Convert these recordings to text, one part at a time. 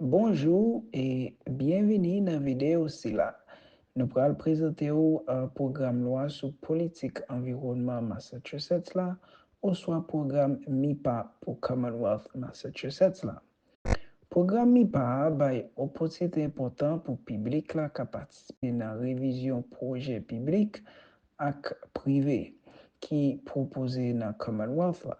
Bonjou e byenvini nan videyo sila. Nou pral prezante ou pwogram lwa sou politik anviwònman Massachusetts la oswa pwogram MIPA pou Commonwealth Massachusetts la. Pwogram MIPA a bay opòtinite enpòtan pou piblik la ka patisipe nan revizyon pwojè piblik ak prive ki pwopoze nan Commonwealth la.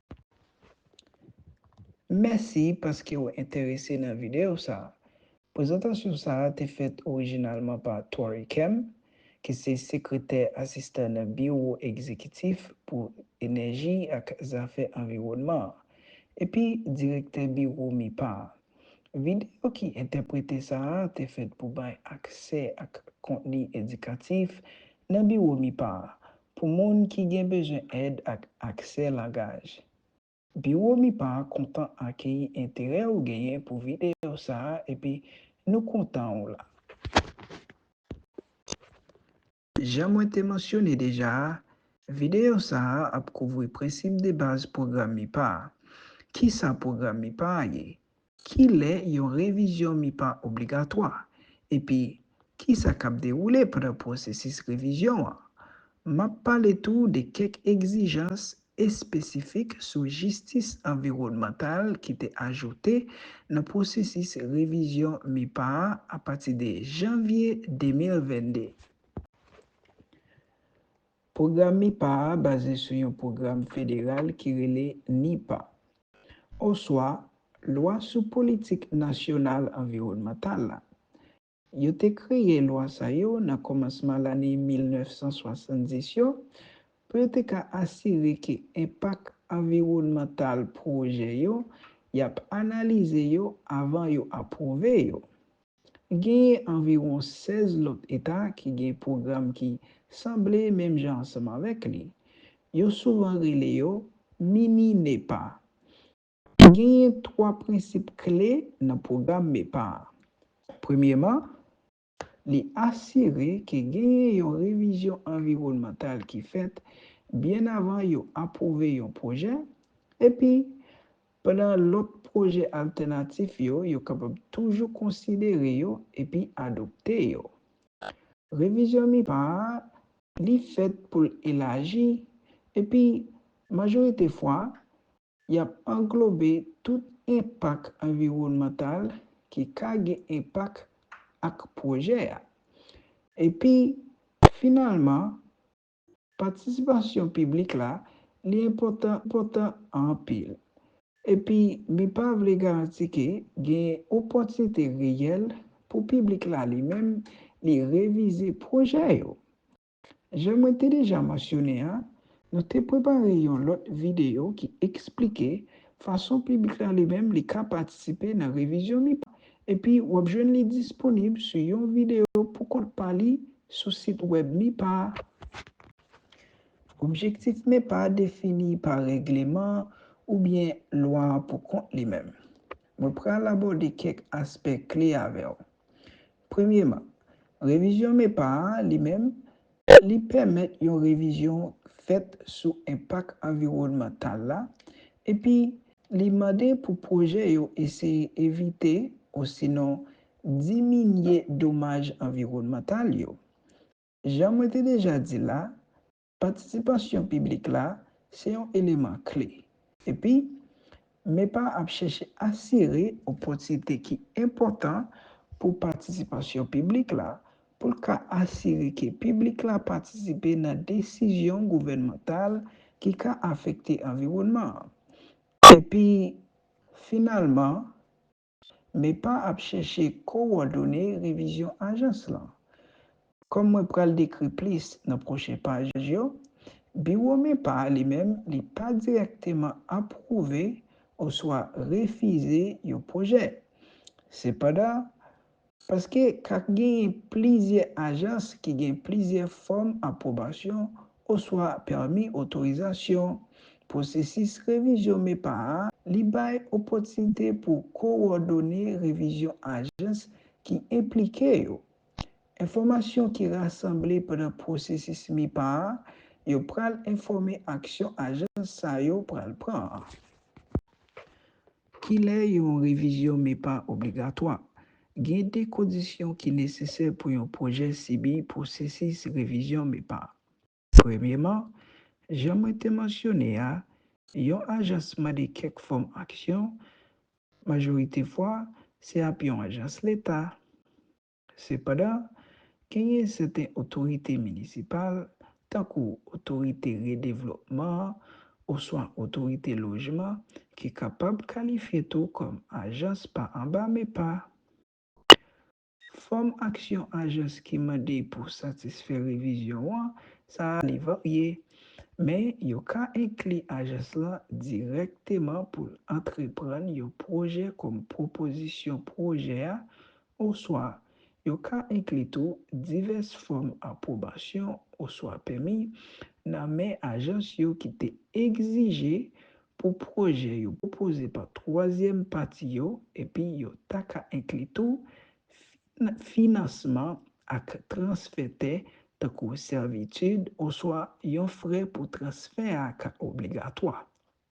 Mèsi paske ou enterese nan videyo sa a. Prezantasyon sa a te fèt orijinalman pa Tory Kemp, ki se Sekretè Asistan nan Biwo Egzekitif pou Enèji ak Zafè Anviwònman an epi Direktè Biwo MIPA a. Videyo ki entèprete sa a te fèt pou bay aksè ak kontni edikatif nan Biwo MIPA a Pou moun ki gen bezwen èd ak aksè langaj. Biwo MIPA a kontan akeyi enterè ou genyen pou videyo sa a epi nou kontan ou la. Jan mwen te mansyone deja a, videyo sa a ap kouvri prensip debaz pwogram MIPA a. Kisa pwogram MIPA a ye? Ki lè yon revizyon MIPA obligatwa, epi ki sa k ap dewoule pandan pwosesis revizyon an? M ap pale tou de kèk egzijans espesifik sou jistis anviwònmantal ki te ajoute nan pwosesis revizyon MIPA a apati de janvye 2022. Pwogram MIPA a baze sou yon pwogram federal ki rele NEPA, oswa Lwa sou Politik Nasyonal Anviwònmantal la. Yo te kreye lwa sa yo nan kòmansman lane 1970 yo pou yo te ka asire ke enpak anviwònmantal pwojè yo y ap analize yo avan yo apwouve yo. Genyen anviwon 16 lòt eta ki gen pwogram ki sanble menm jan ansanm avèk li. Yo souvan rele yo mini NEPA. Genyen twa prensip kle nan pwogram NEPA a. Premyeman, li asire ke genyen yon revizyon anviwònmantal ki fèt byen avan yo apwouve yon pwojè, epi Pandan lòt pwojè altènatif yo, yo kapab toujou konsidere yo epi adopte yo. Revizyon MIPA a, li fèt pou l elaji, epi, majorite fwa, y ap anglobe tout enpak anviwònmantal ki ka gen enpak ak pwojè a. Epi, finalman, Patisipasyon piblik la, li enpòtan enpòtan anpil. Epi li pa vle garanti ke gen opòtinite reyèl pou piblik la li menm li revize pwojè yo. Jan mwen te deja mansyone an, nou te prepare yon lòt videyo ki eksplike fason piblik la li menm li ka patisipe nan revizyon MIPA Epi w ap jwenn li disponib sou yon videyo pou kont pa li sou sit wèb MIPA a. Objektif MIPA a defini pa règleman oubyen lwa an pou kont li menm. Mwen pral abòde kèk aspè kle avè w. Premyeman, revizyon MIPA a li menm Li pèmèt yon revizyon fèt sou enpak anviwònmantal la epi li mande pou pwojè yo eseye evite osinon diminye domaj anviwònmantal yo. Jan mwen te deja di la, patisipasyon piblik la se yon eleman kle epi MEPA ap chèche asire opòtinite ki enpòtan pou patisipasyon piblik la pou l ka asire ke piblik la patisipe nan desizyon gouvènmantal ki ka afekte anviwònman an epi finalman Mepa ap chèche kowòdone revizyon ajans lan. Kòm mwen pral dekri plis nan pwochen paj yo, biwo Mepa a limenm li pa dirèkteman apwouve oswa refize yon pwojè. Sepandan, Paske ka genyen plizyè ajans ki gen plizyè fòm apwobansyon oswa pèmi otorizasyon. Pwosesis revizyon MEPA a, li bay opòtinite pou kowòdone revizyon ajans ki enplike yo. Enfòmasyon ki rasanble pandan pwosesis MEPA a yo pral enfòme aksyon ajans sa yo pral pran. Kilè yon revizyon MEPA obligatwa? Gen de kondisyon ki nesesè pou yon pwojè sibi pwosesis revizyon MEPA. Premyeman, jan mwen te mansyone a, yon ajans mande kèk fòm aksyon, majorite fwa, se ap yon ajans leta. Sepandan, genyen sèten otorite minisipal, tankou otorite redevlopman an oswa otorite lojman, ki kapab kalifye tou kòm ajans pa anba MEPA. Fòm aksyon ajans ki mande pou satisfè revizyon an sa a li varye, men yo ka enkli ajans lan dirèkteman pou l antreprann yon pwojè kòm pwopozisyon pwojè a Oswa, yo ka enkli tou divès fòm apwobasyon oswa pèmi nan men ajans yo ki te egzije pou pwojè yo pwopoze pa twazyèm pati yo epi yo ta ka enkli tou finansman ak transfè tè tankou sèvitid oswa yon frè pou transfè a ka obligatwa.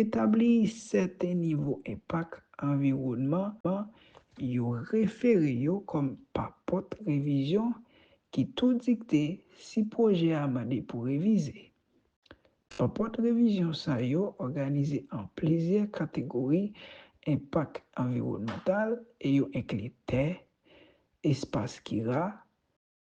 Etabli sèten nivo enpak anviwònman an yo refere yo kòm pa pòt revizyon ki tou dikte si pwojè a mande pou revize. Pa pòt revizyon sa yo òganize an plizyè kategori enpak anviwònmantal e yo enkli tè, espas ki ra,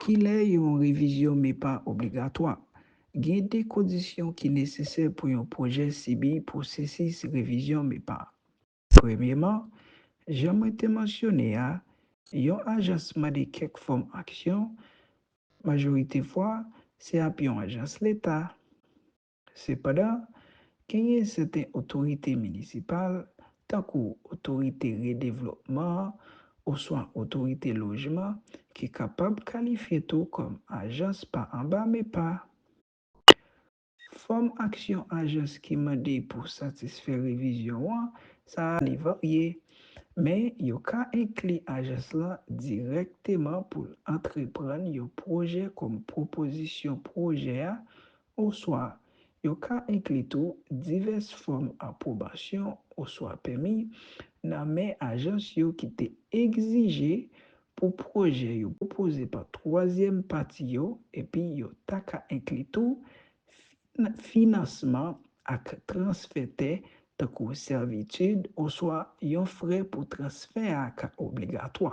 Kilè yon revizyon MEPA obligatwa? Gen de kondisyon ki nesesè pou yon pwojè sibi pwosesis revizyon MEPA. Premyeman, jan mwen te mansyone a, yon ajans mande kèk fòm aksyon, majorite fwa, se ap yon ajans leta. Sepandan, genyen sèten otorite minisipal, tankou otorite redevlopman an oswa otorite lojman, ki kapab kalifye tou kòm ajans pa anba MEPA. Fòm aksyon ajans ki mande pou satisfè revizyon an sa a li varye, men yo ka enkli ajans lan dirèkteman pou l antreprann yon pwojè kòm pwopozisyon pwojè a Oswa, yo ka enkli tou divès fòm apwobasyon oswa pèmi nan men ajans yo ki te egzije pou pwojè yo pwopoze pa twazyèm pati yo epi yo ta ka enkli tou finansman ak transfè tè tankou sèvitid oswa yon frè pou transfè a ka obligatwa.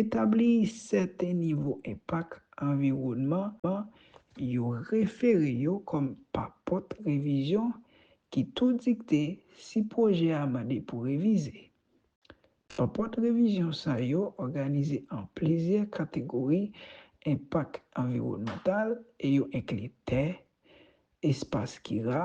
Etabli sèten nivo enpak anviwònman an yo refere yo kòm pa pòt revizyon ki tou dikte si pwojè a mande pou revize. Pa pòt revizyon sa yo òganize an plizyè kategori enpak anviwònmantal e yo enkli tè, espas ki ra,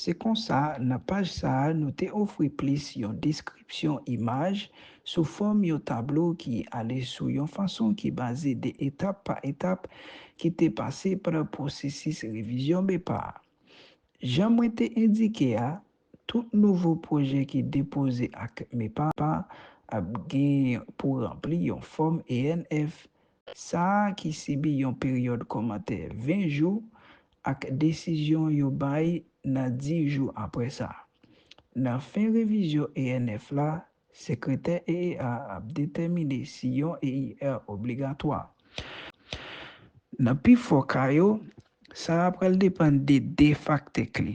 Se konsa, nan paj sa a nou te ofri plis yon deskripsyon imaj sou fòm yon tablo ki ale sou yon fason ki baze de etap pa etap ki te pase pandan pwosesis revizyon BEPA a. Jan mwen te endike a, tout nouvo pwojè ki depoze ak MEPA ap gen pou ranpli yon fòm ENF sa a ki sibi yon peryòd kòmantè 20 jou ak desizyon yo bay nan 10 jou apre sa. Nan fen revizyon ENF la, Sekretè EEA a ap detèmine si yon EIR obligatwa. Nan pifò ka yo, sa a pral depann de 2 faktè kle,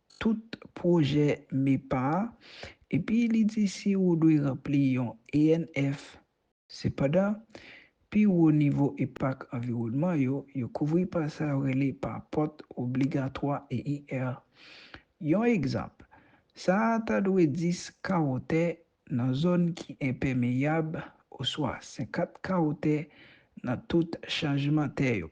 tout pwojè MEPA a epi li di si ou dwe ranpli yon ENF. Sepandan, pi wo nivo enpak anviwònman yo, yo kouvri pa sa yo rele pa pòt obligatwa EIR. Yon egzanp, sa a ta dwe 10 kawo tè nan zòn ki enpèmeyab oswa 50 kawo tè nan tout chanjman tè yo.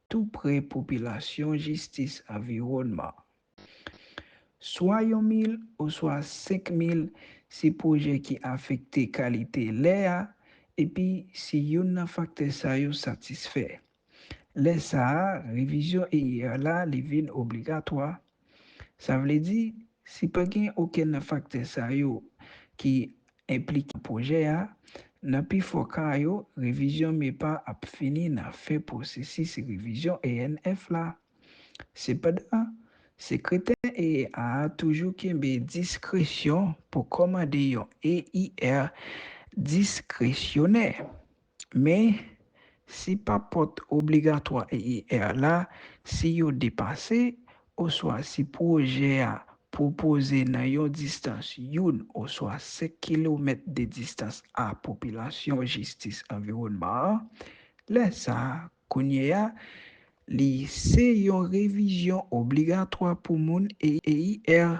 tou pre popilasyon jistis anviwònman. Swa yon mil oswa senk mil se pwojè ki afekte kalite lè a epi si youn nan faktè sa yo satisfè. Lè sa a revizyon EIR la li vin obligatwa. Sa vle di, si pa gen okenn nan faktè sa yo ki enplike nan pwojè a, nan pifò ka yo, revizyon MEPA ap fini nan fen pwosesis revizyon ENF la. Sepandan, Sekretè EEA a toujou kenbe diskresyon pou kòmande yon EIR diskresyonè. Men, si papòt obligatwa EIR la, si yo depase, oswa si pwojè a pwopoze nan yon distans youn oswa senk kilomèt de distans a popilasyon jistis anviwònman an, lè sa a, kounye a, li se yon revizyon obligatwa pou moun EIR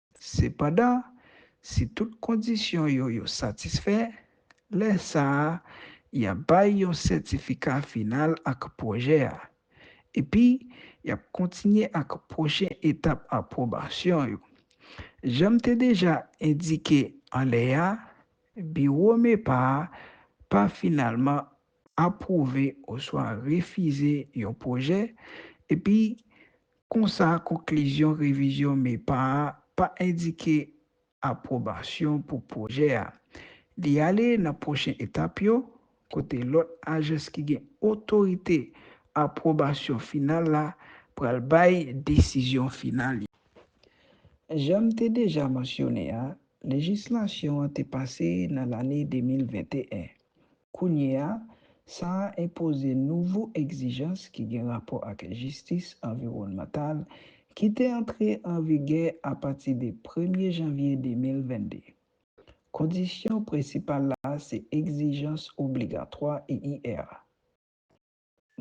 Sepandan, si tout kondisyon yo yo satisfè, lè sa a, y ap bay yon sètifika final ak pwojè a. Epi, y ap kontinye ak pwochen etap apwobasyon yo. Jan m te deja endike anlè a, biwo MEPA a pa finalman apwouve oswa refize yon pwojè, epi Konsa, konklizyon revizyon MEPA a pa endike apwobasyon pou pwojè a. Li ale nan pwochen etap yo, kote lòt ajans ki gen otorite apwobasyon final la pral bay desizyon final yo. Jan m te deja mansyone a, lejislasyon an te pase nan lane 2021. Kounye a, sa a enpoze nouvo egzijans ki gen rapò ak jistis anviwònmantal ki te antre an vigè apati de premye janvye 2022. Kondisyon prensipal la se egzijans obligatwa EIR la.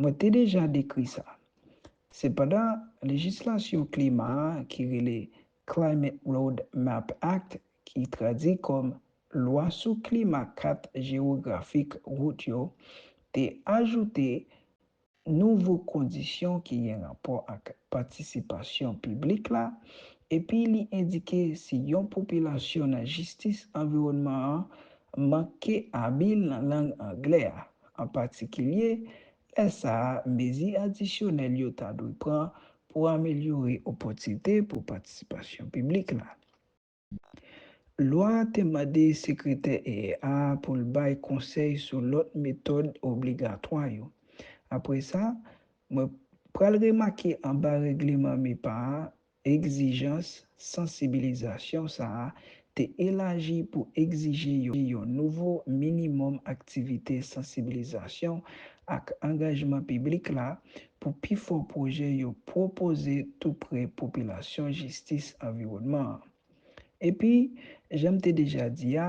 Mwen te deja dekri sa. Sepandan, lejislasyon klima a ki rele Climate Road Map Act, ki tradui kòm Lwa sou Klima Kat Jewografik Wout yo, te ajoute nouvo kondisyon ki gen rapò ak patisipasyon piblik la epi li endike si yon popilasyon nan jistis anviwònman an manke abil nan lang anglè a, an patikilye lè sa a mezi adisyonèl yo ta dwe pran pou amelyore opòtinite pou patisipasyon piblik la. Lwa a te mande Sekretè EEA a pou l bay konsèy sou lòt metòd obligatwa yo. Apre sa, mwen pral remake anba règleman MIPA a Egzijans sansibilizasyon sa a te elaji pou egzije yon nouvo minimòm aktivite sansibilizasyon ak angajman piblik la pou pifò pwojè yo pwopoze tou pre popilasyon jistis anviwònman an. Epi, jan m te deja di a,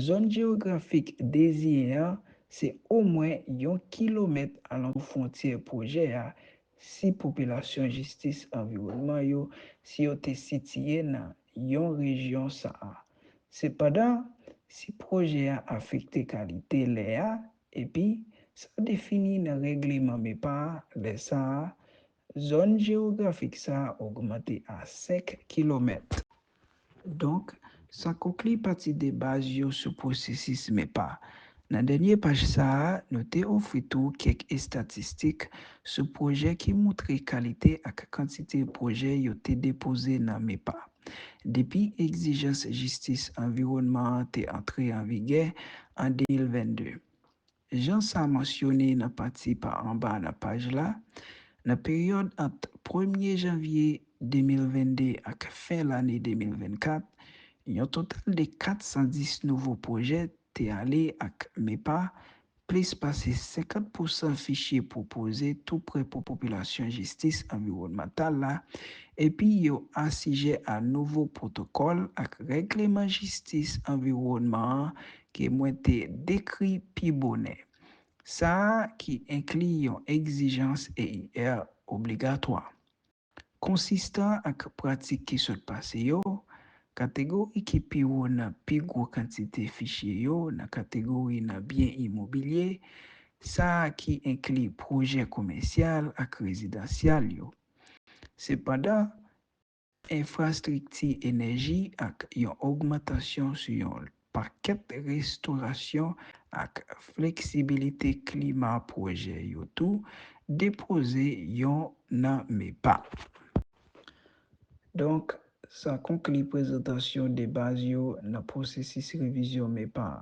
zòn jewografik deziyen an se omwen yon kilomèt alantou fwontyè pwojè a Si popilasyon jistis anviwònman yo si yo te sitiye nan yon rejyon sa a. Sepandan, si pwojè a afekte kalite lè a epi sa defini nan règleman MEPA a lè sa a, zòn jewografik sa a ogmante a 5 kilomèt. Donk, sa konkli pati debaz yo sou pwosesis MEPA. Nan dènye paj sa a, nou te ofri tou kèk estatistik sou pwojè ki moutre kalite ak kantite pwojè yo te depoze nan MEPA. Depi egzijans jistis anviwònman an te antre an vigè an 2022, Jan sa mansyone nan pati pa anba nan paj la, nan peryòd ant premye janvye 2022 ak fen lane 2024, yon total de 410 nouvo pwojè te ale ak MEPA, plis pase 50 pousan fichye pwopoze tou prè pou popilasyon jistis anviwònmantal la, epi yo asijè a nouvo pwotokòl ak règleman jistis anviwònman an ke mwen te dekri pi bonè, sa a ki enkli yon egzijans EIR obligatwa. Konsistan ak pratik ki sot pase yo, kategori ki pi wo nan pi gwo kantite fichye yo nan kategori nan byen imobilye, sa a ki enkli pwojè komèsyal ak rezidansyal yo. Sepandan, enfrastrikti enèji ak yon ogmantasyon sou yon pakèt restorasyon ak fleksibilite klima pwojè yo tou depoze yon nan MEPA. Donk, sa konkli prezantasyon debaz yo nan pwosesis revizyon MEPA a.